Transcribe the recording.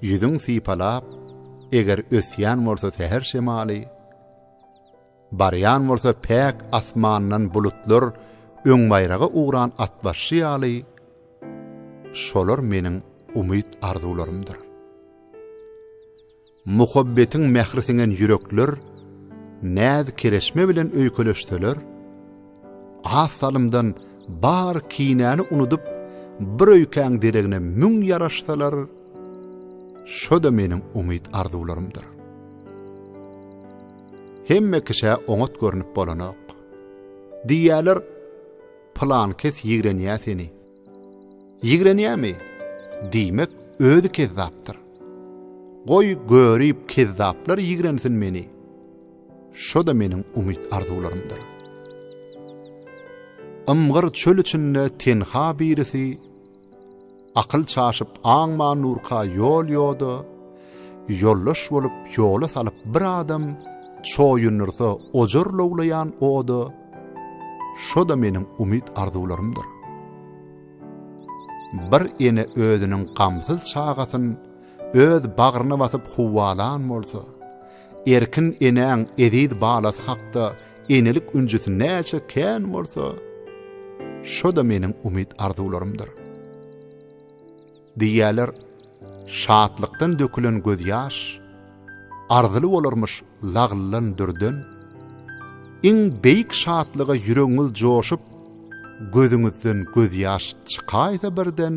Ýüzüň sypalap, eger ösýän bolsa säher şemaly, Barýan bolsa päk asmandan bulutlar öňbaýraga ugran atbaşy ýaly, Şolar meniň umyt-arzuwlarymdyr. Muhabbetiň mähri siňen ýürekler Näz-kereşme bilen öýkeleşseler, Az salymdan bar kinäni unudyp, bir öýkäň deregine müň ýaraşsalar, şo-da meniň umyt-arzuwlarymdyr. Hemme kişä oňat görnüp bolanok. Diýýäler, pylan kes ýigrenýä seni. Ýigrenýämi? Diýmek, özi kezzapdyr. Goý, görip, kezzaplar ýigrensin meni. Şo-da meniň umyt-arzuwlarymdyr. Ymgyr çöl içinde tenha birisi, Akyl çaşyp aňma nurka ýol-ýoda, Ýoldaş bolup ýola salyp bir adam, Çoýundyrsa ojar lowlaýan oda, Şo-da meniň umyt-arzuwlarymdyr. Bir ene özüniň gamsyz çagasyn Öz bagryna basyp huwalan bolsa, Erkin enäň eziz balasy hakda enelik ünjüsi näçe kän bolsa, şo-da meniň umyt-arzuwlarymdyr. Diýýärler, şatlykdan dökülen gözýaş arzyly bolarmyş laglylan dürden. Iň beýik şatlyga ýüregiňiz joşup, gözüňizden gözýaş çykaýsa birden,